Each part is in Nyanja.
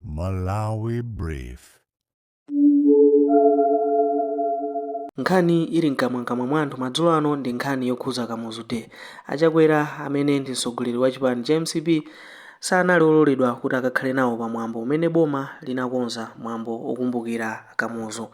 Malawi Brief. Nkhani ili mkamwamkamwa mwa anthu madzulo ano ndi nkhani yokhuza Kamuzu Day. A Chakwera amene ndi mtsogoleri wa chipani cha mcp sanali ololedwa kuti akakhale nawo pa mwambo umene boma linakonza mwambo okumbukira Kamuzu.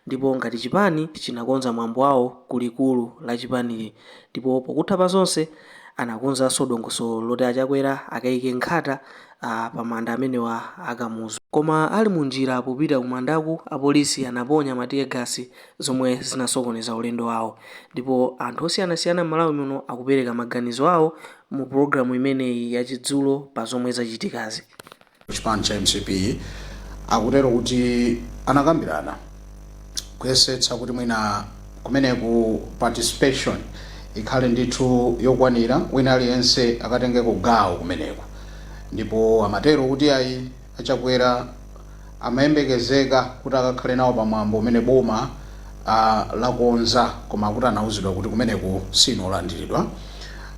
Ndipo ngati chipani chinakonza mwambo wawo ku likulu la chipanili ndipo pokutha pa zonse anakonzanso dongosolo loti a Chakwera akaike nkhata pa manda amenewa a Kamuzu. Koma ali mu njira popita ku mandaku, apolisi anaponya ma teargas zomwe zinasokoneza ulendo wawo. Ndipo anthu osiyanasiyana m'Malawi muno akupereka maganizo awo mu program imeneyi ya Chidzulo pa zomwe zachitikazi. chipani cha mcp akutero kuti anakambirana. kuyesetsa kuti mwina kumeneku participation ikhale ndithu yokwanira wina aliyense akatengeko gawo kumeneku ndipo amatero kuti ayi achakwera amayembekezeka kuti akakhale nawo pamwambo umene boma ah, lakonza koma kuti anauzidwa kuti kumeneku sinu olandiridwa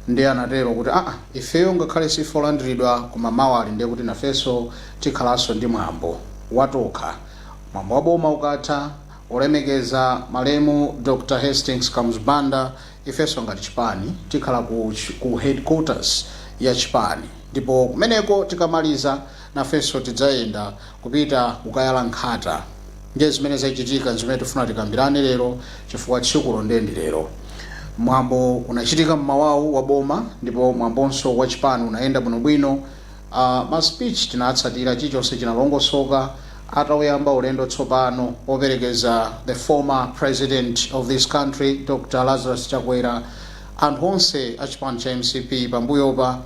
ndiye anatero kuti aa ifeyo ngakhale sife olandiridwa koma mawali ndiye kuti nafenso tikhalanso ndi mwambo watokha Mwambo wa boma ukatha, olemekeza malemu Dr Hastings Kamuzu Banda ifenso ngati chipani tikhala ku ku headquarters ya chipani ndipo kumeneko tikamaliza nafenso tidzayenda kupita kukayala nkhata ndiye zimene zachitika nzimene tifuna tikambirane lero chifukwa tsikulo ndiye ndi lero. Mwambo unachitika mmawawu wa boma ndipo mwambonso wa chipani unayenda bwinobwino. Aaa ma speech tinatsatira chilichonse chinalongosoka atauyamba ulendo tsopano operekeza the former president of this country Dr Lazarus Chakwera anthu onse achipani cha mcp pambuyopa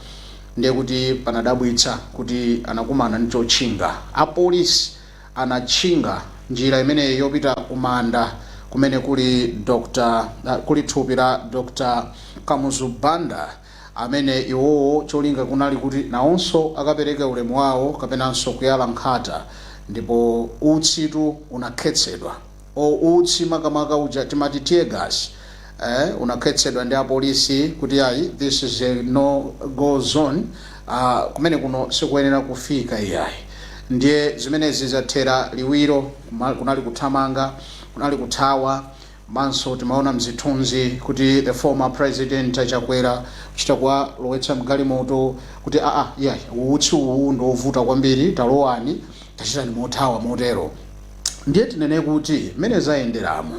ndiye kuti panadabwitsa kuti anakumana ndi chotchinga apolisi anatchinga njira imeneyi yopita kumanda kumene kuli thupi la Dr Kamuzu Banda amene iwowo cholinga kunali kuti nawonso akapereke ulemu wawo kapenanso kuyala nkhata ndipo utsitu unakhetsedwa or utsi makamaka uja timati tear gas eh unakhetsedwa ndi apolisi kuti ayi this is a no go zone ah kumene kuno sikuyenera kufika iyayi ndiye zimenezi zathera liwiro kunali kuthamanga kunali kuthawa Komanso timaona mzithunzi kuti the former president a Chakwera kuchita kuwalowetsa mgalimoto kuti aa iyayi utsi uwu ndi ovuta kwambiri talowani tachitani mothawa motero. Ndiye tinene kuti mmene zayenderamo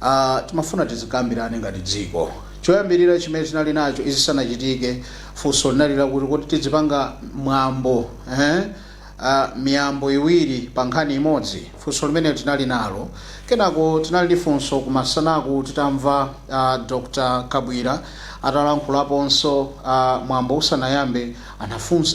a timafuna tizikambirane ngati dziko. Choyambirira chimene tinali nacho izi zisanachitike funso linali lakuti kodi tizipanga mwambo eeh, a miyambo iwiri pa nkhani imodzi. Funso limeneli tinali nalo. Kenako tinali ndi funso kumasanaku titamva a Dr Kabwira atalankhulaponso mwambo usanayambe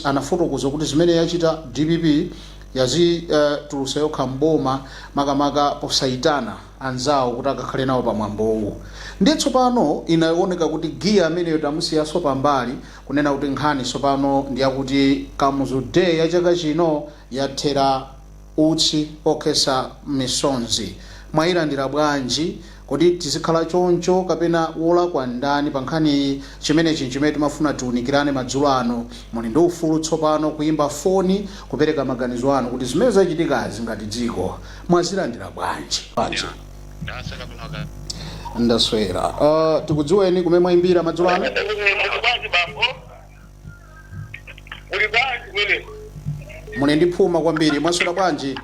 anafotokoza kuti zimene yachita dpp yadzitulutsa yokha m'boma makamaka posayitana anzawo kuti akakhale nawo pa mwambowu. Ndiye tsopano inaoneka kuti gear ameneyo tamusiyaso pambali Kunena kuti nkhani tsopano ndi yakuti Kamuzu Day ya chaka chino yathera utsi okhetsa misonzi. Mwayilandira bwanji? Kodi tizikhala choncho kapena wolakwa ndani pa nkhaniyi? Chimenechi n'chimene timafuna tiwunikirane madzulo ano. Muli ndi ufulu tsopano kuyimba foni kupereka maganizo anu kuti zimene zachitikazi ngati dziko mwazilandira bwanji? ndasaka kunaka ndaswera uh, tikudziweni kumene mwaimbira madzulo ano muli bwanji bambo muli bwanji kumene muli ndi phuma kwambiri mwaswera bwanji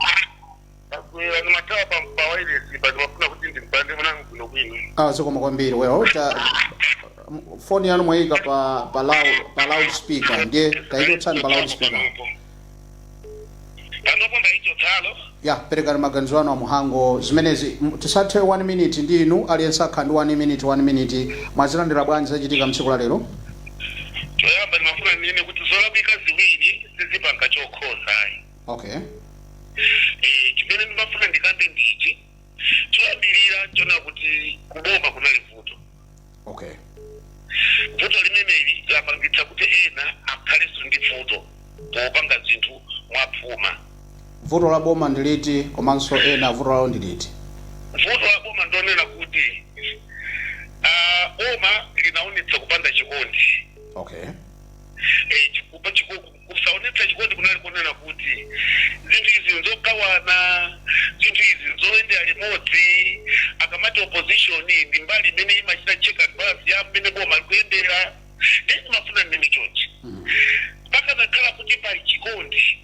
akwera ndimathawa pawairesi pa ndimafuna kuti ndimpande mwanangu kuno kwino ah, zikomo kwambiri well ta, foni yanu mwayika pa, pa, loud, pa loud speaker ndiye tayichotsani pa loud speaker panopo ndaichotsano ya perekani maganizo anu a Mhango zimenezi M- tisathe 1 minute ndi inu aliyense akhala ndi 1 minute 1 minute mwazilandira bwanji zachitika mtsiku la lero choyamba ndimafuna ndinene kuti zolakwika ziwiri sizipanga chokhozayi okay Eh, chimene ndimafuna ndikambe ndichi choyambirira chona kuti kuboma kunali vuto okay vuto limeneli lapangitsa kuti ena akhalenso ndi vuto popanga zinthu mwaphuma vuto la boma ndi liti komanso ena vuto lawo ndi liti vuto la boma ndonena kuti ah, boma linaonetsa kupanda chikondi okay Eh, chikupa chiko- Kusaonetsa chikondi kunali konena kuti, Zinthu izi nzogawana. Zinthu izi nzoyendera limodzi. Akamati opposition ndi mbali imene imachita check and balance ya mmene boma likuyendera. Ndiye ndimafuna ndinene chonchi, pakanakhala kuti pali chikondi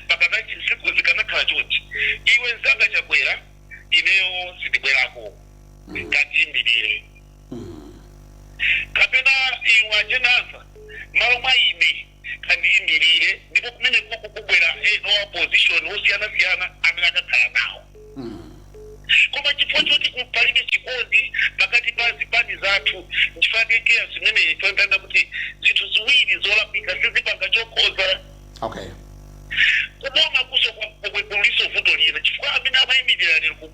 pakanati zinthu zikanakhala chonchi, iwe mzanga Chakwera ineyo sindibwerako. Kandiimirire. kapena iwe ajenasa malo mwa ine kandiyimirire ndipo kumene kuku kubwera ena wa opposition osiyanasiyana amene akakhala nawo koma chifukwa choti palibe chikondi pakati pa zipani zathu ndifanekera zimene toyambana kuti zinthu ziwiri zolakwika sizipanga chokhoza okay kuboma kuso kuliso vuto lina chifukwa amene amayimirira lero ku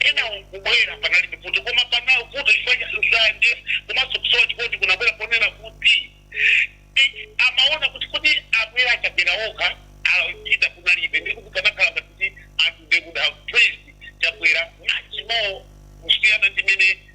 enawo nkubwera panalibe vuto koma panawo vuto chifukwa cha nsanje komanso kusowa chikondi kunabwera ponena kuti eh, amaona kuti kodi abwera aChakwera okha achita kunalibe ndi kuti panakhala ngati kuti anthu they would have praised chakwera much more kusiyana ndi mene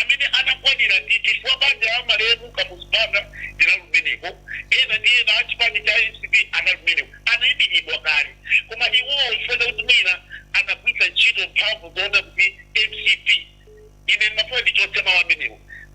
amene anakwanira ndi chifukwa banja la malemu Kamuzu Banda linali kumeneko, ena ndi ena a chipani cha mcp anali kumeneko, anaimiridwa kale. Koma iwowo chifukwa chakuti mwina anagwiritsa ntchito mphamvu zoona kuti mcp, ine ndimafuna ndichotse mawu amenewo.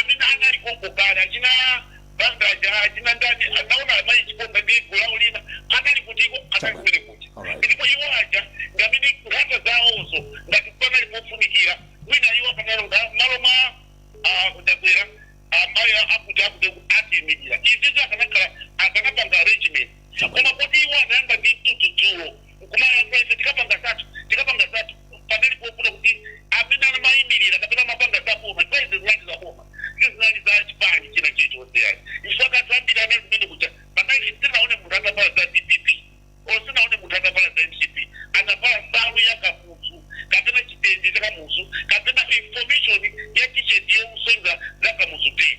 amene anali konko kale achina banda aja achina ndani anaona amayi Chiponda ndi gulu lawo lina anali kutiko anali kumene kuja Alright. ndipo iwo aja ndi amene nkhata zawozo ngati panali pofunikira mwina iwo akanalola malo mwa ah, kuti aChakwera amayi akuti akuti atiimirira izizi akanakhala akanapanga arrangement koma kuti iwo anayamba ndi mtutu dzulo nkumati ifeyo tikapanga zathu tikapanga zathu panali pofuna kuti amene anamayimirira kapena amapanga za boma nthawi zinali za boma sizinali za chipani china chilichonse yani chifukwa kathu ambiri anali kumene kuja panali sinaone munthu atavala za dpp or sinaone munthu atavala za mcp anavala nsalu ya kamuzu kapena chitenje cha kamuzu kapena information ya t-shirt yowonetsa za kamuzu day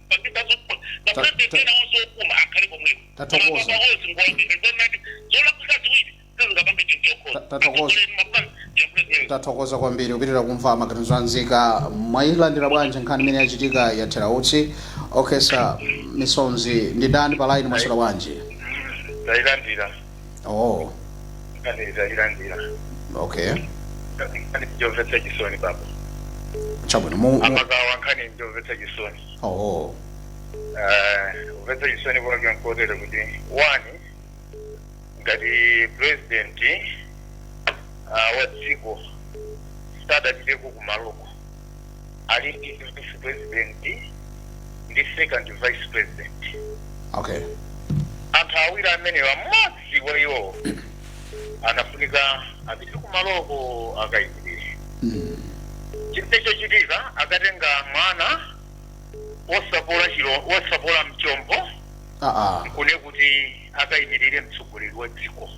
tathokoza kwambiri kupitiriza kumva maganizo anzika mwayilandira bwanji nkhani imene yachitika yathera utsi okhesa misonzi ndi ndani pa line mwaswera bwanji tayilandira oh Ndayilandira. okay nkhani njomvetsa chisoni baba. chabwino mu, mu Amagawa nkhani njomvetsa chisoni. oh Eh, kumvetsa chisoni kwake nkotere kuti one ngati president ah, wa dziko sadapiteko kumaloko ali ndi vice president ndi second vice president okay anthu awiri amenewa mmodzi wa iwowo anafunika apite kumaloko akayimirire chinthu chochitika akatenga mwana wosapola chilo wosapola mchombo ah ah nkunena kuti akayimirire mtsogoleri wa dziko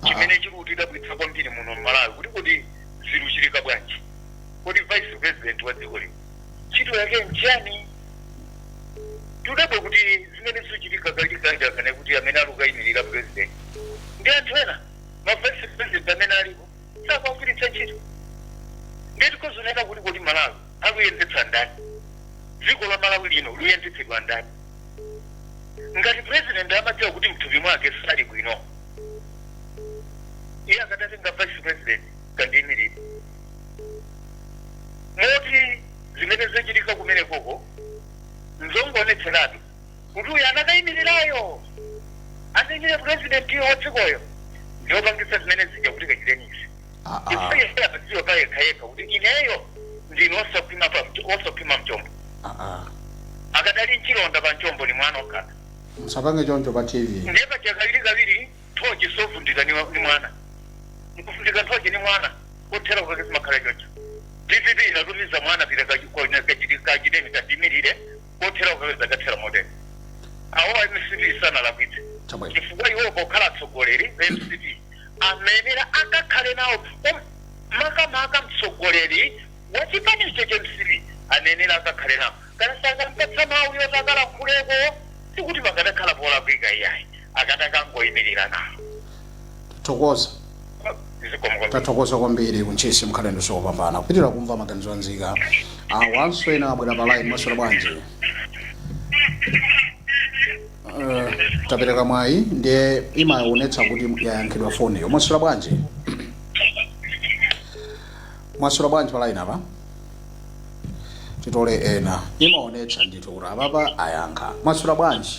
chimene chikutidabwitsa kwambiri muno mmalawi kuti kodi zikuchitika bwanji kodi vice president wa dziko lino ntchito yake nchani tudabwe kuti zimene zikuchitika kalikanja kana kuti amene ali kukayimirira president ndi anthu ena ma vice president amene alipo osakagwiritsa ntchito nde tikuzanena kuti kodi malawi akuyendetsa ndani dziko la malawi lino luyendetsedwa ndani ngati president amadziwa kuti mthupi mwake sali bwino iye akadatenga vice president kandiyimirire moti zimene zachitika kumenekoko nzongoonetseratu kuti uyu anakayimirirayo anayimirira president wa dzikoyo ndiopangitsa zimene zija kuti kachiteni izi Ah, ah. chifukwa iye amadziwa pa yekha yekha kuti ineyo ndine osakhwima pa mch- osakhwima mchombo Ah, ah. akadali mchilonda pa mchombo ndi mwana okhala musapange choncho pa tv ndiye pachakawiri kawiri Nthochi sivundika ndi ndi mwana. Nkufundika nthochi ndi mwana. Kothera kwake kumakhala choncho. Dpp inatumiza mwana pita kachi- kwa- na- kachiti- kachiteni katiyimirire kothera kwake zakathera motero. Awo a MCP sanalakwitse. Chabwino. Chifukwa iwo pokhala atsogoleri a MCP anenera akakhale nawo um- makamaka mtsogoleri wa chipani icho cha MCP anenera akakhale nawo. Kana sanakampatsa mawu yoti akalankhuleko sikuti pakadakhala polakwika iyayi. akadakangoyimirira nawo tathokoza zikomo tathokoza kwambiri ku Ntchisi mkhale ndi tsiku lopambana tipitirire kumva maganizo a nzika awonso ena abwera pa line mwaswera bwanji Eh, tapereka mwayi ndiye imaonetsa kuti yayankhidwa foniyo mwaswera bwanji mwaswera bwanji pa line apa titole ena imaonetsa ndithu kuti apapa ayankha mwaswera bwanji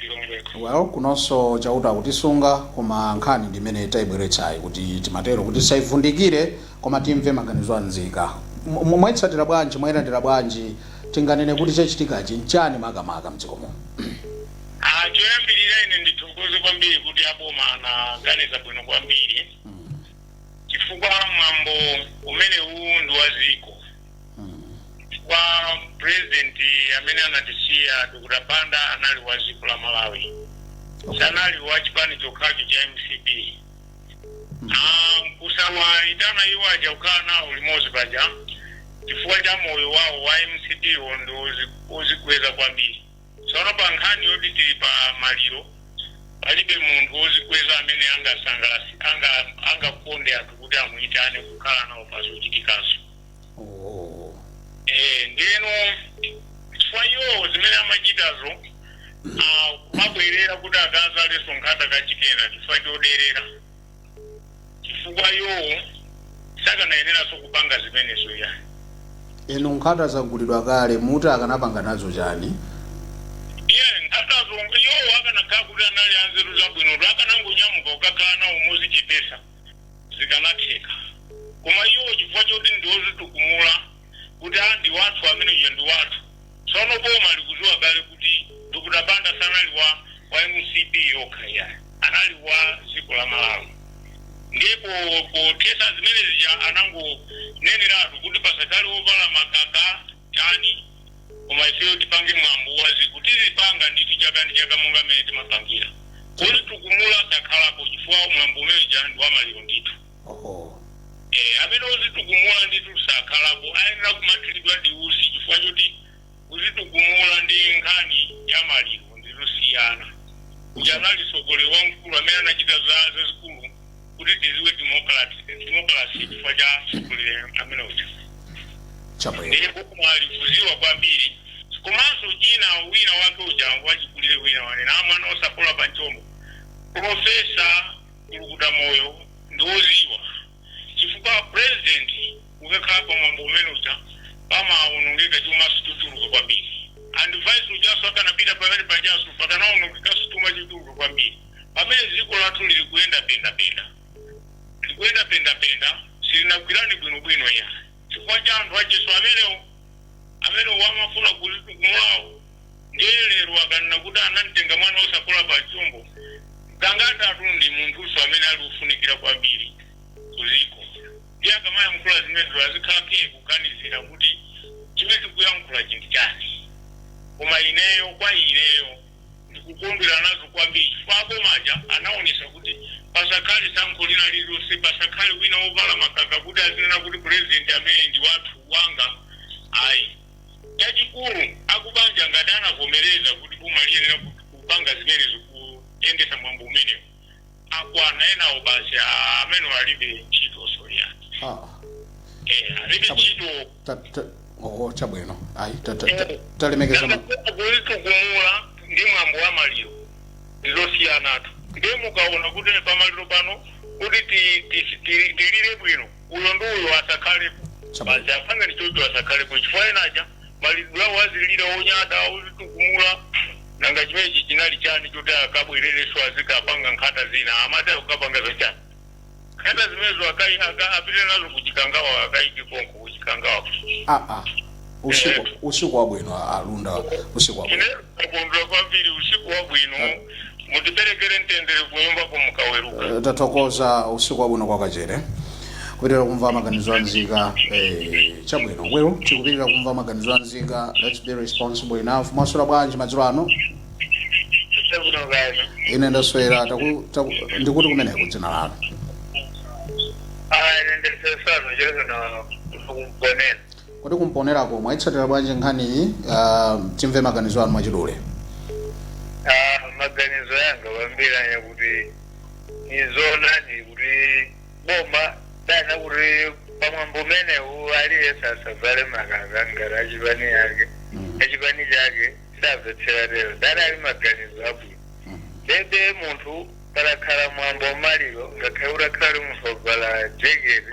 Lilongwe ku. Well kunonso chauta akutisunga koma nkhani ndi imene taibweretsayi kuti timatero kuti tizaivundukule koma timve maganizo a nzika. Mwaitsatira bwanji? Mwailandira bwanji? Tinganene kuti chachitikachi nchani makamaka mdziko muno? Aaa choyambilira ine ndithokoze kwambiri kuti aboma anaganiza bwino kwambiri chifukwa mwambo umenewu ndi wa dziko. chifukwa president amene anatisiya dr banda anali wa dziko la malawi sanali wa chipani chokhacho cha mcp Ah, kusawaitana iwo aja kukhala nawo limodzi paja chifukwa cha moyo wawo wa mcp iwo ndi ozi- ozikweza kwambiri Tsono pa nkhani yoti tili pa maliro, palibe munthu wozikweza amene angasangalatse anga angakonde anthu kuti amuitane kukhala nawo pa zochitikazo. Eeh ndiyeno chifukwa iwowo zimene amachitazo aah kumabwerera kuti akazalenso nkhata kachikena chifukwa choderera. chifukwa iwowo sakanayeneranso kupanga zimenezo ya inu nkhata zagulidwa kale muti akanapanga nazo chani iye nkhatazo iwowo akanakhala kuti anali anzeru zabwinotu akanangonyamuka kukakhala nawo mozichepesa zikanatheka koma iwo chifukwa choti ndiozitukumula kuti a ndi wathu amene uja ndi wathu tsono boma limaziwa kale kuti Dr Banda sanali wa mcp yokha iyayi anali wa ziko la Malawi ndipo pothesa zimene zija anangoneneratu kuti pasakhale ovala makaka chani koma ifeyo tipange mwambo wa ziko tizipanga ndithu chaka ndi chaka monga mmene timapangira ozitukumula sakhalapo chifukwa mwambo umene uja ndi wa maliro ndithu oho Eh, amene ozitukumula ndithu sakhalapo ayenera kumathiridwa ndi usi chifukwa choti kuzitukumula ndi nkhani ya maliro ndi zosiyana uja anali sogolero wamkulu amene anachita zazikulu kuti tiziwe demokrasi chifukwa cha sogolero amene uja chabwino ndiye boma likuziwa kwambiri komanso china wina wake uja wachikulire wina wanena mwana osapola pa mchombo profesa kulukuta moyo ndiwoziwa chifukwa president ukakhala pa mwambo umene uja pamawonongeka chumaso chochuluka kwambiri and vice ujaso akanapita pamene pajaso pakanawonongekaso chuma chochuluka kwambiri pamene dziko lathu lili kuyenda pendapenda likuyenda pendapenda silinagwirane bwinobwino ya chifukwa cha anthu ajeso amenewo amene wamafuna kumulawo ndiye lero akanena kuti anamtenga mwana osapola pa mchombo zangatatu ndi munthuso amene ali ofunikira kwambiri kuziko ndiye akamayankhula zimenezo azikhala kaye kuganizira kuti chimene tikuyankhula chinthu chani koma ineyo kwa ineyo ndikukondwera nazo kwambiri chifukwa abomaja anaonesa kuti pasakhale tsankho lina lililonse pasakhale wina wovala makaka kuti azinena kuti purezidenti amene ndi wathu wanga ayi Chachikulu, akubanja ngati anavomereza kuti boma liyenera kupanga zimenezo, kuyendetsa mwambo umenewo, akwana enawo basi aah amenewo alibe ntchitonso iyayi. Ah, Eh, alibe Chabwino. ntchito. ta, ta, oh, chabwino ayi ta- ta- ta- talemekeza ma- kuzitukumula ndi mwambo wa maliro ndizosiyanatu ndiye mukaona kuti pamaliro pano kuti ti- ti- ti- tilire bwino uyo ndi uyo asakhalepo Chabwino. basi apange ni choncho asakhalepo chifukwa enaja maliro awo azilira onyada ozitukumula nanga chimenechi chinali chani choti akabwerereso azikapanga nkhata zina amati akapanga zachani nkhata zimenezo akai- aka- apite nazo kuchikangawa akaike konko kuchikangawa aa usiku usiku wabwino a- alunda usiku wabwino ine ndikukondwera kwambiri usiku wabwino mutiperekere mtendere kunyumba mukaweruka Eh, tathokoza usiku wabwino kwa kachere kupitirira kumva maganizo a nzika eh, chabwino wewo tikupitirira kumva maganizo a nzika let's be responsible enough mwaswera bwanji madzulo ano chabwino kani ine ndaswera taku- taku- ndikuti kumeneko dzina lanu aya nendesesano chero kana kugonena Koma ku Mponelako mwaitsatira bwanji nkhaniyi? Uh, timve maganizo anu mwachidule. Ah, maganizo yanga kwambiri anya kuti ndi zoonadi kuti boma lanena kuti pamwambo umenewu aliyense asavale makaka ngati achipani yake achipani chake savetsera tero dana ali maganizo abwino ndiye munthu palakhala mwambo wamaliro ngakhale utakhala kuti munthu wavala jekete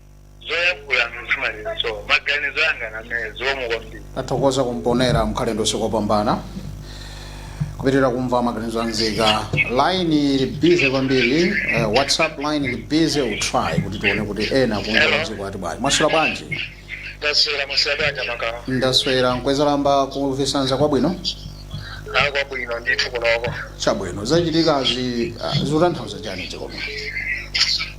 zoyankhula mzimalinso maganizo anga ndi amene zikomo kwambiri tathokoza ku Mponela mukhale ndi tsiku lopambana kupitirira kumva maganizo anzika line ili busy kwambiri uh, whatsapp line ili busy titry kuti tione kuti ena kunja kwa dziko ati bwanji mwaswera bwanji taswera musabanja makawa ndaswera nkwezalamba kuvisanza kwabwino akwabwino ndithu kunoko chabwino zachitikazi uh, zikutanthauza chani zikomo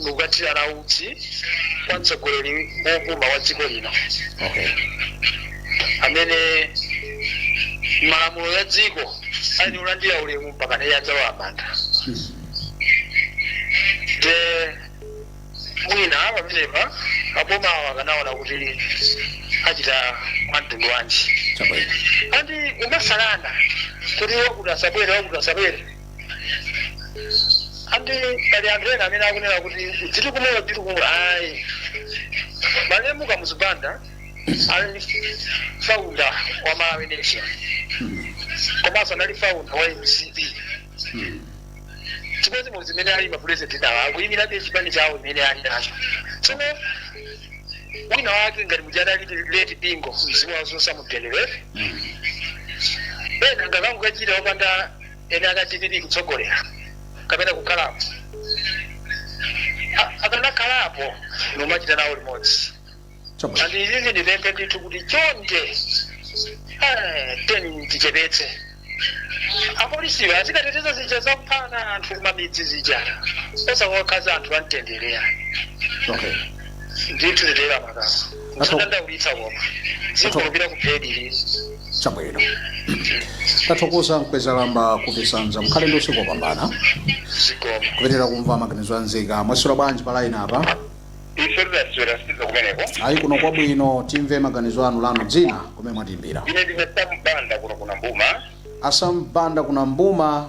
ndikukathirana utsi kwa mtsogoleri wopuma wa dziko lino okay amene malamulo ya dziko ati alandire ulemu mpaka naye adzalowe m'manda nde mwina pamenepa abomawo akanaona kuti achita mwa mtundu wanji chabwino andi kumasalana kuti wakuti asabwere wakuti asabwere andi pali anthu ena amene akunena kuti ndi chikumbutso ayi malemu kamuzu banda anali faunda wa malawi nation komanso anali faunda wa mcp chimodzimodzi mmene ali mapulezidenti nawo akuyimirabe chipani chawo chimene ali nacho tsono wina wake ngati muja adali leti bingo mzimu wawo uuse mu mtendere ena sakanangokachita opanda eni ake a dpp kutsogolera kapena kukhalapo A- akanakhalapo nkumachita nawo limodzi Chabwino. and izizi ndipemphe ndithu kuti chonde eh, tiyeni tichepetse apolisiwa azikateteza zija zakuphana anthu kumamidzi zija osati kuwakhadza anthu amtenderewa Okay. ndithu nditera makasa sandidandaulitsa koma sindikhulupira kuphedili chabwino tathokoza a Mkwezalamba ku Chisanza mukhale ndi usiku wopambana zikomo kupitiriza kumva maganizo a nzika mwaswera bwanji pa line apa ife taswera kaya kumeneko ayi kuno kwabwino timve maganizo anu lanu dzina komwe mwatiyimbira ine ndine Sam Banda kuno ku Nambuma a Sam Banda ku Nambuma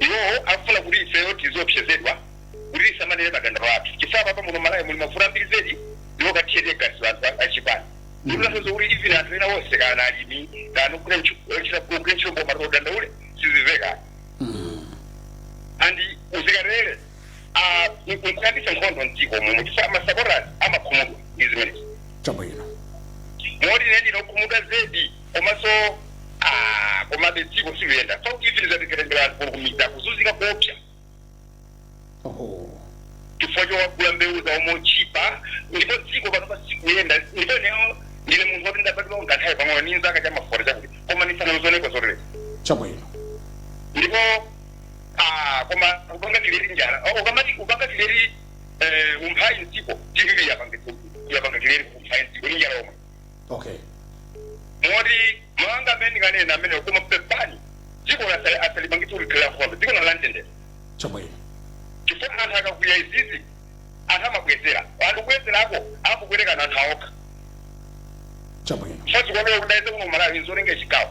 iwowo akufuna kuti ifeyo tiziopsezedwa kuti tisamanene madandaulo athu chifukwa panopa muno m'Malawi muli mavuto ambiri zedi ndiwo kuthira teargas anthu a- achipani ndikutanthauza kuti even anthu ena onse kana alimi kana kuchita kugwira ntchito boma madandaulo sazimveka and azikolezera nkuyambisa nkhondo mdziko muno chifukwa masapota amakhumudwa ndi zimenezi chabwino moti ine ndine okhumudwa zedi komanso ah, komabe dziko silikuyenda zoti izi zizatitengera anthu kumidzi akuzunzika kuopsa Oho. chifukwa chowagula mbewu zawo motchipa ndipo dziko pano silikuyenda ndipo neyo ndine munthu woti ndabadwa kanthawi pang'ono ni nzaka zama forty chakuti koma sinazioneko zotele Chabwino. ndipo ah, koma kupanga trend njala Oh, mukamati kupanga trend eh, umphawi mdziko tv yapanga yapanga trend umphawi mdziko ni njala yomwe okay moti mawu anga amene ndinganene amenewo koma pepani dziko lasa- asalipangitse kuti likhale la nkhondo dziko lino lamtendere chabwino chifukwa anthu akakwiya izizi anthu amabwezera anthu kubwezerako akubwezerana anthu okhaokha chabwino chifukwa si ife tidayesa kuno malawi nzolenga chigawo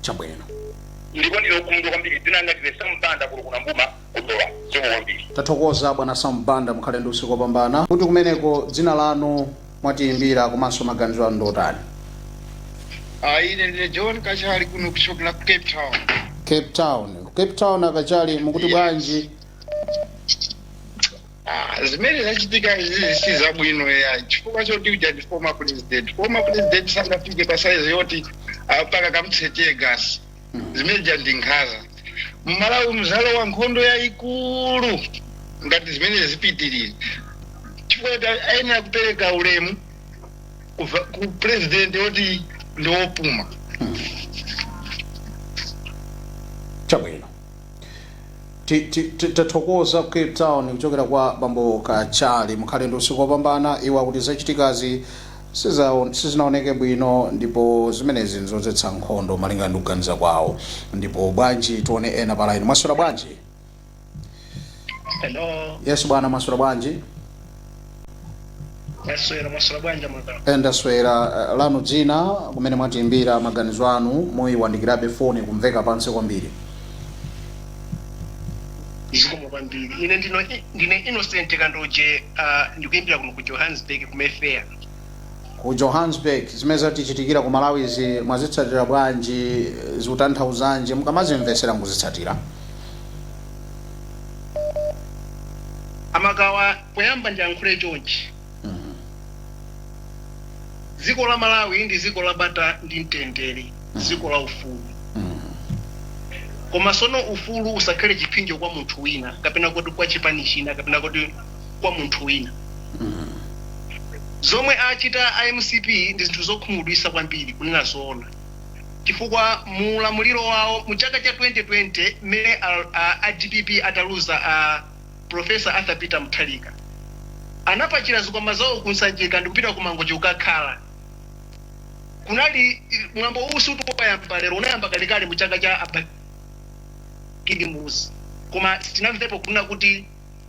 chabwino ndipo ndine okhumudwa kwambiri dzina langa ndine sam banda kuno ku Nambuma ku Dowa zikomo kwambiri tathokoza bwana sam banda mukhale ndi usiku wopambana kuti kumeneko dzina lanu mwatiyimbira komanso maganizo anu ndotani Ah, ine ndine john kachali kuno kuchokera ku cape town cape town cape town a Kachali mukuti bwanji Ah, zimene zachitika izi si zabwino ya chifukwa choti uja ndi former president former president sangafike pa size yoti ah, mpaka kumthira teargas zimene zija ndi nkhaza mmalawi muzalowa nkhondo yayikulu ngati zimene zipitirire chifukwa choti ayenera kupereka ulemu kuva- kwa president woti ndi wopuma chabwino Ti- ti- ti- tathokoza ku cape town kuchokera kwa bambo kachali mukhale ndi usiku wopambana iwo akuti zachitikazi sizaon- sizinaoneke bwino ndipo zimenezi nzodzetsa nkhondo malinga ndi kuganiza kwawo ndipo bwanji tione ena pa line mwaswera bwanji Hello, yes bwana mwaswera bwanji Mwaswera mwaswera bwanji mwakala. eh ndaswera eh, lanu dzina kumene mwatiimbira maganizo anu muyiwandikirabe foni kumveka pansi kwambiri Zikomo kwambiri. Ine ndino ndine Innocent Kandoje uh, ndikuimbira kuno ku Johannesburg ku Mayfair. ku johannesburg zimene zatichitikira ku malawi izi mwazitsatira bwanji eh, zikutanthauzanji mukamazimvesera mukuzitsatira amagawa poyamba ndiyankhule chonchi dziko la malawi ndi dziko la bata ndi mtendere dziko la ufulu koma sono ufulu usakhale chiphinjo kwa munthu wina kapena kuti kwa chipani china kapena kuti kwa munthu wina zomwe achita a mcp ndi zinthu zokhumudwisa kwambiri kunena zoona chifukwa mu ulamuliro wawo mu chaka cha 2020 mmene a a dpp ataluza a Professor Arthur Peter Mutharika anapachira zikwama zawo ku Nsanjika ndikupita ku Mangochi kukakhala kunali mwambo uwu sikuti wayamba lero unayamba kalekale mu chaka cha a Bakili Muluzi koma sitinamvepo kunena kuti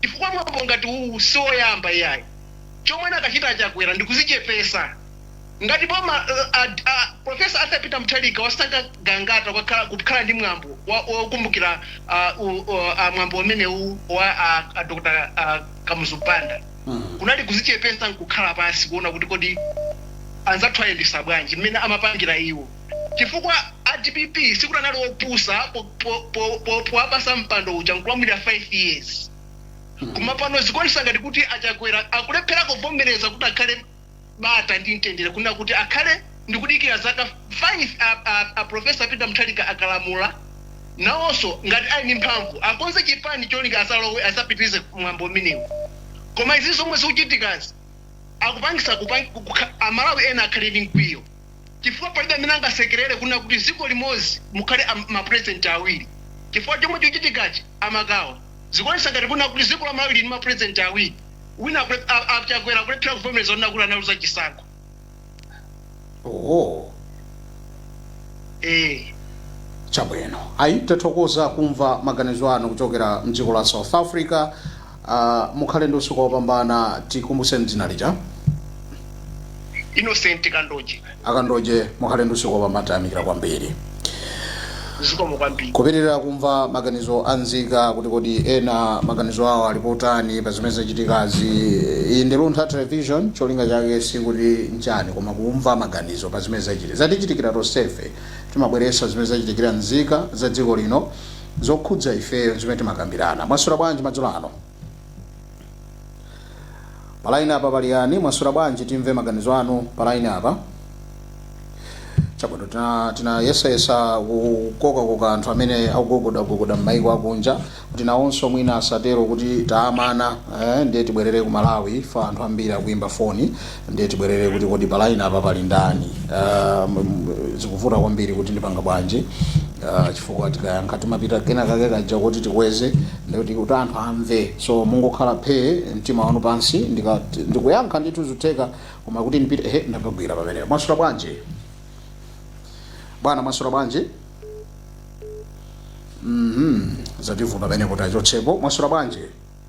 chifukwa mwambo ngati uwu sioyamba iyayi. Chomwe anakachita a Chakwera ndi kuzichepesa. Ngati boma la a Professor Arthur Peter Mutharika wasankha Gangata kukakhala kukhala ndi mwambo wa wokumbukira a u a mwambo umenewu wa a a Dr. a Kamuzu Banda kunali kuzichepesa nkukhala pansi kuona kuti kodi anzathu ayendesa bwanji mmene amapangira iwo. chifukwa a dpp sikuti anali opusa powapasa mpando uja nkulamulira 5 years koma pano zikuonesa ngati kuti a Chakwera akulephera kuvomereza kuti akhale bata ndi mtendere kunena kuti akhale ndikudikira zaka 5 a Professor Peter Mutharika akalamula nawoso ngati ali ndi mphamvu akonze chipani cholinga azalowe azapitilize mwambo umenewu koma izi zomwe zikuchitikazi akupangisa a Malawi ena akhale ndi mkwiyo. chifukwa palibe amene angasekelele kunena kuti ziko limozi mukhale a ma president awiri chifukwa chomwe chikuchitikachi amagawa zikuonesa ngati kunena kuti ziko la malawi lili ndi ma president awiri wina akule, a, a chakwera akulephera kuvomereza kunena kuti analuza chisankho oh. eh chabwino ayi tathokoza kumva maganizo anu kuchokera mdziko la south africa Mukhale ndi usiku opambana. Tikumbutseni dzina lija? Innocent Kandoje. Akandoje mukhale ndi usiku opambana tayamikira kwambiri. Zikomo kwambiri. Kupitilira kumva maganizo a nzika kuti kodi ena maganizo awo ali potani pa zimene zachitikazi. Iyi ndi Luntha Television cholinga chake sikuti nchani koma kumva maganizo pa zimene zachitika. Zatichitikira tonsefe timabweretsa zimene zachitikira nzika za dziko lino zokhudza ifeyo ndi zimene timakambirana. Mwaswera bwanji madzulo ano? Pa line apa pali yani? Mwaswera bwanji? Timve maganizo anu pa line apa. Chabwino tina tinayesayesa kukokakoka anthu amene akugogodagogoda m'mayiko akunja kuti nawonso mwina asatero kuti taamana eh, ndiye tibwerere ku Malawi chifukwa anthu ambiri akuimba foni ndiye tibwerere kuti kodi pa line apa pali ndani uh, zikuvuta kwambiri kuti ndipanga bwanji uh, chifukwa tikayankha timafika kena kake kaja kuti tikweze ndikuti kuti anthu amve so mungokhala phee mtima wanu pansi ndika- ndikuyankha ndithu zutheka koma kuti ndipite he ndapagwira pamenepo mwaswera bwanji bwana mwaswera bwanji mhm zavuta pamenepo tachotsapo mwaswera bwanji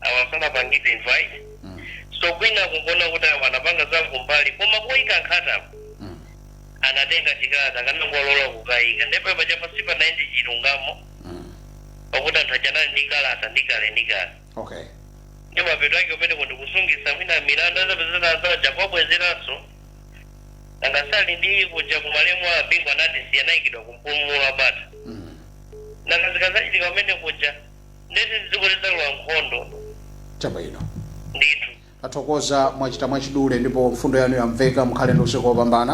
awa sanapangidwe invite Mm. so kwina kungona kuti awa anapanga za kumbali koma kuyika nkhatapo Mm. anatenga chikalata akanangolola kukayika ndipo paja pansi pa 90 chilungamo Mm. pakuti anthu achanali ndi kalata ndi kale ndi kale okay ndi mapeto ake umene kuti kusungitsa mwina milandu azapezera zaja kwabwezeranso angasali ndi kuja kumalemu a bingu anati siyanayikidwa kumpumulo wa bata Mm. nakazikazachitika umene kuja ndiye kuti dziko lidzalowa nkhondo chabwino ndithu tathokoza mwachita mwachidule ndipo mfundo yanu yamveka mukhale ndi usiku wopambana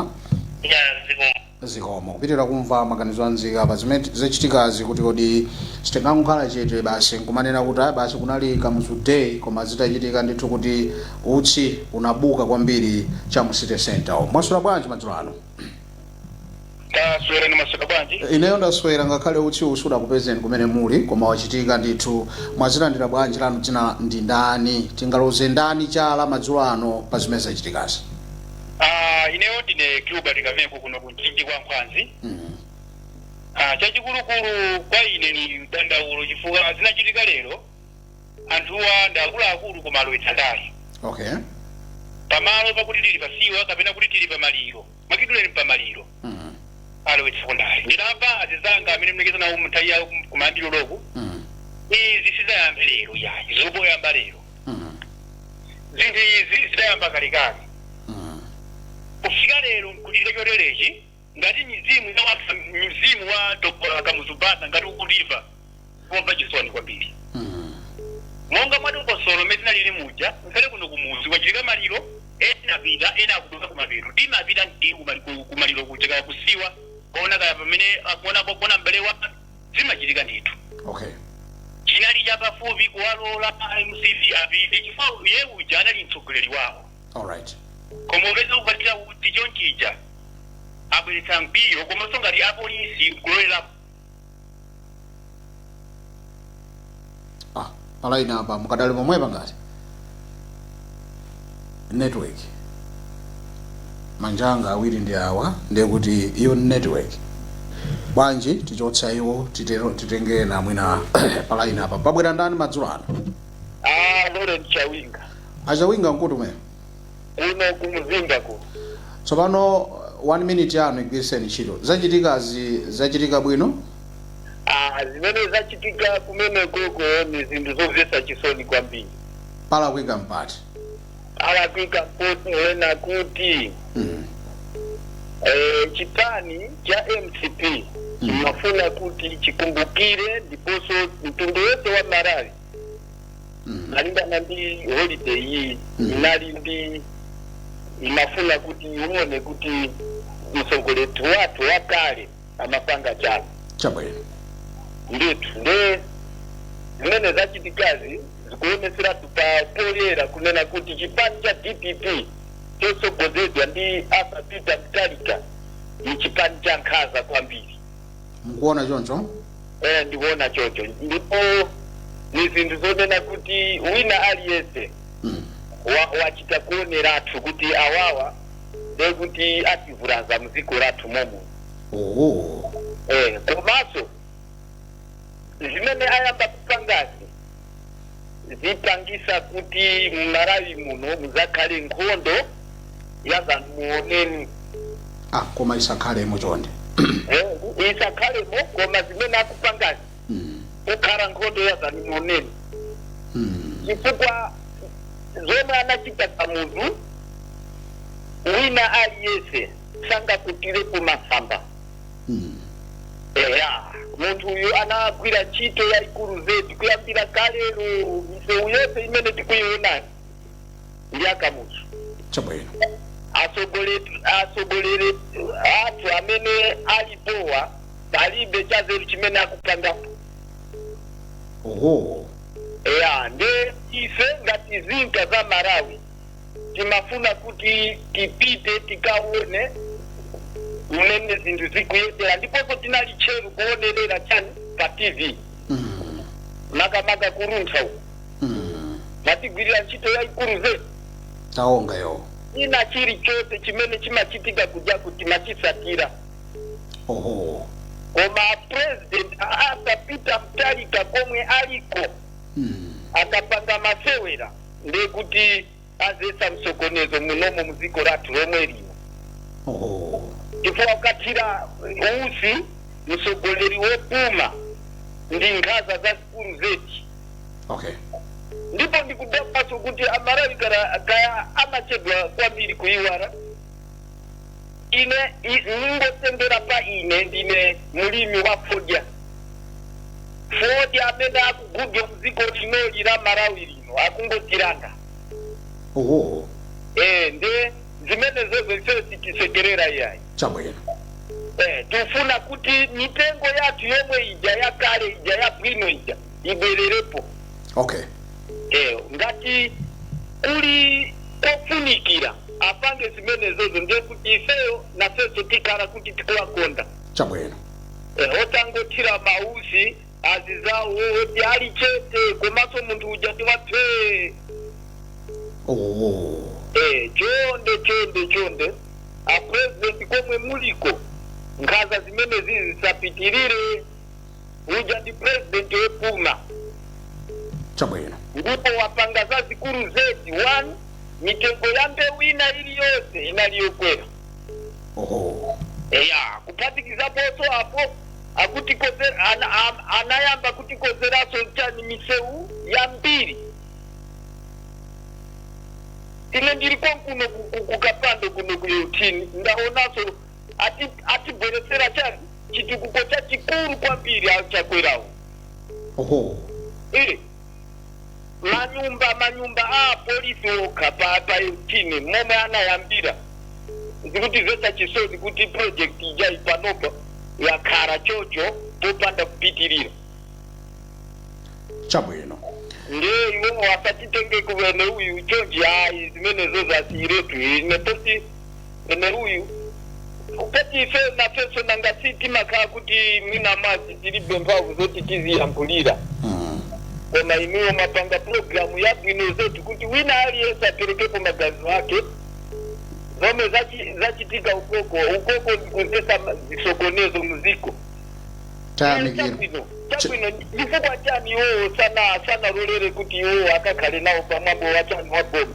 ya dziko zikomo kupitiriza kumva maganizo a nzika pa zimene zachitikazi kuti kodi sitingangokhala chete basi nkumanena kuti "Ah, basi kunali kamuzu day koma zitachitika ndithu kuti utsi unabuka kwambiri cha mu city center mwaswera bwanji madzulo ano taswera ni masaka bwanji ineyo ndaswera ngakhale utsi usudakupezeni kumene muli koma wachitika ndithu mwazilandira bwanji lanu dzina ndi ndani tingaloze ndani chala madzulo ano pa zimene zachitikazi Ah, ineyo ndine gilbert kameko kuno ku mchinji kwa nkhwazi Mhm. Ah, chachikulukulu kwa ine ni dandaulo chifukwa zinachitika lero anthuwa ndi akuluakulu koma alowetsa ndale okay pamalo pakuti tili pasiwa kapena kuti tili pamaliro ndakudulani pamaliro mm. alowetsako ndale ndinamva anzanga amene mlekeza nawo mnthawi yawo kum- kumayambiro loko Mm. izi sizidayambe lero yayi zongoyamba lero Mm. zinthu izi zidayamba kalekale Mm. kufika lero nkuchita choterechi ngati mizimu yawapsa mzimu wa dr kamuzu banda ngati ukutimva kumva chisoni kwambiri monga mwa dongosolo mmene zinalili muja ngakhale kuno kumuzi kwachitika maliro ena apita ena akupita kumapeto timapita ndi kumali- ku- kumaliro kuja kaya kusiwa kuona kaya pamene akuona kuona mbale wa zimachitika ndithu okay chinali chapafupi kuwalola mcp apite chifukwa iye uja anali mtsogoleri wawo alright koma umene ukupatira kuti chonchuja abweretsa mkwiyo komanso ngati apolisi kulolera ah palaini apa mukadali momwemu pa ngati network anzanga awiri ndi awa ndiye kuti iyo ndi network bwanji tichotsa iwo titero titenge ena mwina palaini apa pabwera ndani madzulo ano Ah, Lawrence Chawinga. A Chawinga muli kuti kumene? kuno ku mzimba ku Tsopano 1 minute yanu igwiritseni ntchito. Zachitikazi zachitika bwino? Ah, zimene zachitika kumene koko ni zinthu zomvetsa chisoni kwambiri. Palakwika m'pati? Palakwika ponena kuti Mm. eh, chipani cha mcp chimafuna kuti chikumbukire ndiponso mtundu wonse wa Malawi malingana ndi holiday iyi Mm. inali ndi inafuna kuti uone kuti mtsogoleri wathu wakale amapanga chani chabwino ndithu nde zimene zachitikazi zikuoneseratu pa poyera kunena kuti chipani cha dpp chotsogozedwa ndi arthur peter mutharika ni chipani cha nkhaza kwambiri mukuona choncho eh, ndikuona chocho ndipo ni zinthu zonena kuti wina aliyense mm. wa- wachita kuoneratu kuti awawa nde kuti ativulaza mdziko lathu lomwe lino oh. eh, komanso zimene ayamba kupangazi zipangisa kuti mmalawi muno muzakhale nkhondo yazamuoneni ah koma isakhalemo chonde isakhalemo koma zimene akupangazi mm. kukhala nkhondo yazamuoneni mm. chifukwa zomwe anachita Kamuzu wina aliyese sangakutire kumasamba eya munthu uyu anagwira ntchito yayikulu zedi kuyambira kalero misewu yonse imene tikuyiona ndi ya kamuzu chabwino atsogoleri atsogoleri athu amene alipowa palibe chazeru chimene akupangapo oho eya nde ife ngati nzika za Malawi timafuna kuti tipite tikaone mmene zinthu zikuyendera ndiponso tinali tcheru kuonerera chani pa tv makamaka Luntha uko mwatigwirira ntchito yayikulu zedi taonga yo china chilichonse chimene chimachitika kuja timachisatira oho koma president Arthur Peter Mutharika komwe aliko akapanga masewera ndiye kuti adzetsa msokonezo munomo muziko lathu lomwe lino oh. chifukwa wakathira utsi mtsogoleri wopuma ndi nkhaza zazikulu zedi okay ndipo ndikudabwaso kuti amalawi kara- kaya amachedwa kwambiri kuiwala ine i- ndingotengera pa ine ndine mlimi wa fodya fodya amene akugulidwa mdziko linoli la malawi lino akungotilanga oho eh nde zimenezozo ifeyo sitisekerera iyayi chabwino eh tifuna kuti mitengo yathu yomwe ija yakale ija yabwino ija ibwererepo okay eh, ngati kuli kofunikira apange zimenezozo ndiye kuti ifeyo nafenso tikhala kuti tikuwakonda chabwino Eh, otangothira mautsi azinzawo oti ali chete komanso munthu uja timuphe oh. Eh, chonde chonde chonde a president komwe muliko nkhaza zimenezizi zisapitirire uja ndi president wopuma chabwino ndipo wapanga zazikulu zedi one mitengo ya mbewu ina iliyonse inali yokwera oho eya kuphatikizaponso apo akuti- ana- am- anayamba kutikonzeraso chani misewu yambiri ine ndili konkuno ku- ku- kukapando kuno ku 18 ndaonaso atibweretsera chani chitukuko chachikulu kwambiri achakwerawo oho Eh, manyumba manyumba a apolisi okha pa pa 18 momwe anayambira zikutidzetsa chisoni kuti project ija panopa yakhala chocho popanda kupitirira chabwino nde iwowo asatitenge kuvene uyu chonchi ayi zimenezozo asiyiretu ine poti ameneuyu poti ife nafenso nanga si timakhala kuti mwina mwake tilibe mphamvu zoti tiziyankhulira Mm. koma inuyo mwapanga pulogalamu yabwino zedi kuti wina aliyense aperekepo maganizo ake zomwe zachi- zachitika ukouko ukouko ndikudzetsa zisokonezo muziko tayamikira chabwino chabwino chifukwa chani iwowo sana sanalolere kuti iwowo akakhale nawo pamwambo wa chani wa boma